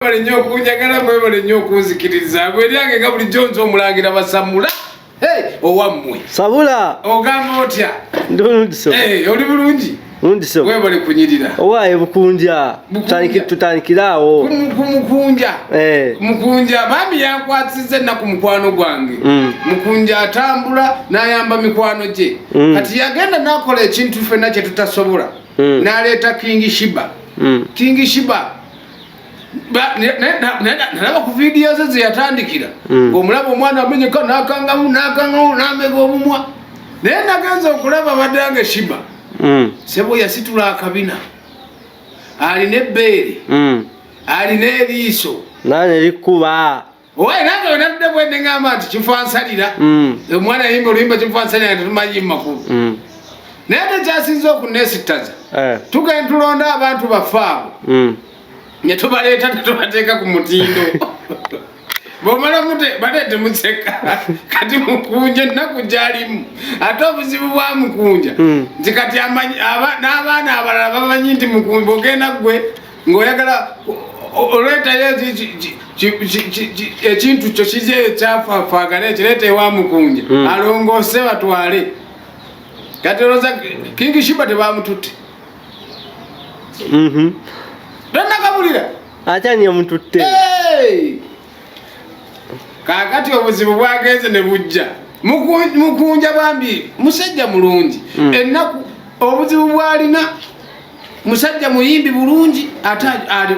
mwebale nnyo okunjagala mwebale nnyo okunzikiriza gwe lyange nga bulijjo nze omulangira basamula owammwe sabula ogamba otya ndulundiso eh, oli bulungi lundiso webale kunyirira owaye bukunja tutandikire awo kumukunja eh. mukunja bambi yankwasiza ennaku mukwano gwange mm. mukunja atambula nayamba mikwano gye mm. kati yagenda nakola ekintu fenna kyetutasobola mm. naleeta kingi shiba kingi shiba nalaba ku vidiyo ze zeyatandikira mm. omulaba omwana amenyeka nakangamu nakangamu namega omumwa naye nagenza okulaba badange shiba mm. sebo yasitula akabina alina ebbeere mm. alina eriiso nane likuba owaye nange wenatudde bwende ngamba nti kifansalira mm. omwana yayimba oluyimba kifansalira nga tetumanyi mumakulu mm. naye ate kyasinza okunesittaza eh. tugenda tulonda abantu baffe abo mm. netubaleeta tetubateeka ku mutindo bwomala mute baleete museka kati mukunja ennaku gyalimu ate obuzibu bwa mukunja nti kati n'abaana abalala bamanyi nti mukunja ogenda gwe ng'oyagala oleetayo ekintu kyo kizeyo ekyafafaagana ekireeta ewa mukunja hmm. alongoose batwale kati olowooza kingi shiba tebamututte mhm. tonakabulira akyani omututte kakati obuzibu bwagenze ne bujja mukunja bambi musajja mulungi hmm. ennaku obuzibu bwalina musajja muyimbi bulungi ate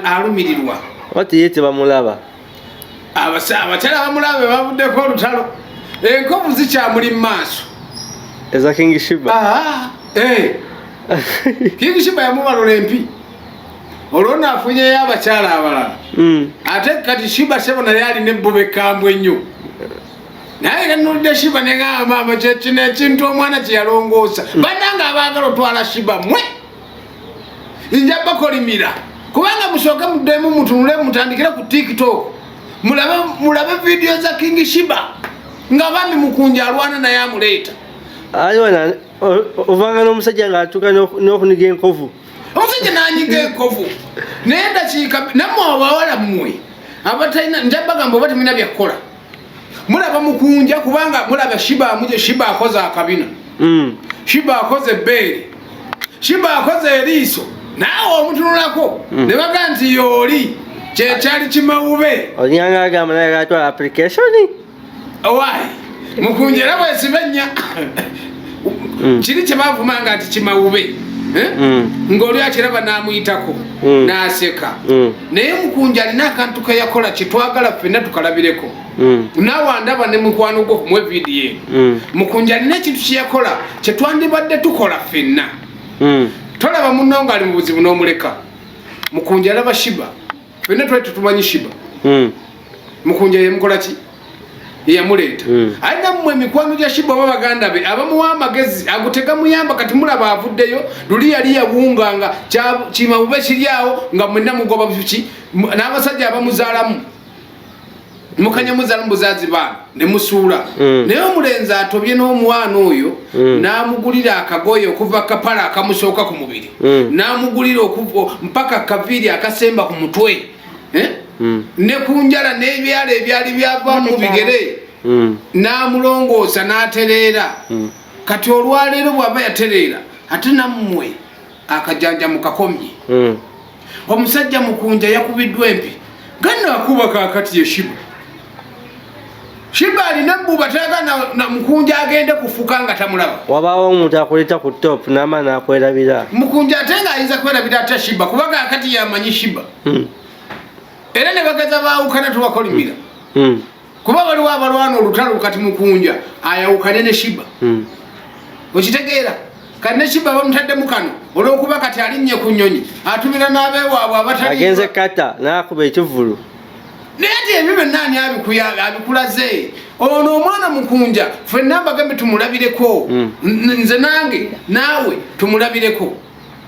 alumirirwa ati ye tebamulaba abakyala bamulaba bebavuddeko olutalo enkovu zikyamuli mu maaso eza king shiba eh. king shiba yamubalula empi olwo nafunyeyo abakyala abalala hmm. ate kati shiba sebo naye alina ebbuba ekambwe ennyo naye yanulidde shiba neŋaa maama kyekino ekintu omwana kyeyalongoosa hmm. banange abaagala otwala shiba mwe nja bakolimira kubanga musooke muddemu mutunule mutandikire ku tiktok mulabe vidiyo za king shiba nga bambi mukunja alwana naye amuleeta ayona ovanga n'omusajja ng'atuuka n'okuniga enkovu omusajja nanyiga enkovu naye dakiika namwe abawala mmwe abatalina njabagamba oba temulina byakukola mulaba mukunja kubanga mulaba shiba amuje shiba akoze akabina mm. shiba akoze ebbeere shiba akoze eriiso naawe omutunulako mm. ne baga nti yooli kyekyali kimawube onyanga agamba naye gatwala application owayi mukunja era bwesiba ennya mm. kiri kyebavumanga nti kimawube eh? mm. ngaoli akiraba namuyitako mm. naseka mm. naye mukunja alina akantu keyakola kyetwagala fena tukalabireko mm. nawandaba ne mukwano gwo kumwe vidiyo mm. mukunja alina ekintu kyeyakola kyetwandibadde tukola fenna mm. tolaba munonga ali mubuzibu nomuleka mukunja alaba shiba fenna twali tutumanyi shiba hmm. mukunja yemukolaki yeyamuleeta hmm. aye nammwe emikwano gya shiba oba baganda be abamuwa amagezi agutega muyamba kati mulaba avuddeyo luli yali yawunga nga kimabube kiryawo nga mwenna mugoba buki n'abasajja abamuzaalamu mukanyamuza mubuzazi bana nemusuula mm. naye omulenzi atobye n'omwana oyo mm. namugulira akagoye okuva kapala akamusooka ku mubiri mm. namugulira mpaka kaviiri akasemba ku mutwe eh? ne ku njala n'ebyala ebyali byava mu bigere namulongoosa n'atereera kati olwaleero bwaba yatereera ate nammwe akajanja mukakomye mm. omusajja mukunja yakubiddwa empi ganna akuba kakati yeshiba shiba alina buba taga na, na mukunja agende kufuka nga tamulaba wabawo omuntu akuleta ku top nama nakwerabira mukunja ate nga ayinza kwerabira ate shiba kuba kakati yamanyi shiba mm. era ne bagaza baawukana tubakolimira mm. mm. kuba waliwo abalwana olutalo kati mukunja ayawukane ne shiba hmm. okitegeera kati ne shiba bamutaddemu kano olwokuba kati alinnye ku nyonyi atumira n'abewaabwe abataagenze kata nakuba ekivulu naye ti ebyo byonna ani abikulaze ono omwana mukunja fenna mbagambe tumulabireko hmm. nze nange naawe tumulabireko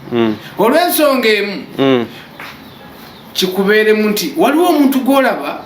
hmm. olw'ensonga emu kikubeeremu nti waliwo omuntu gwolaba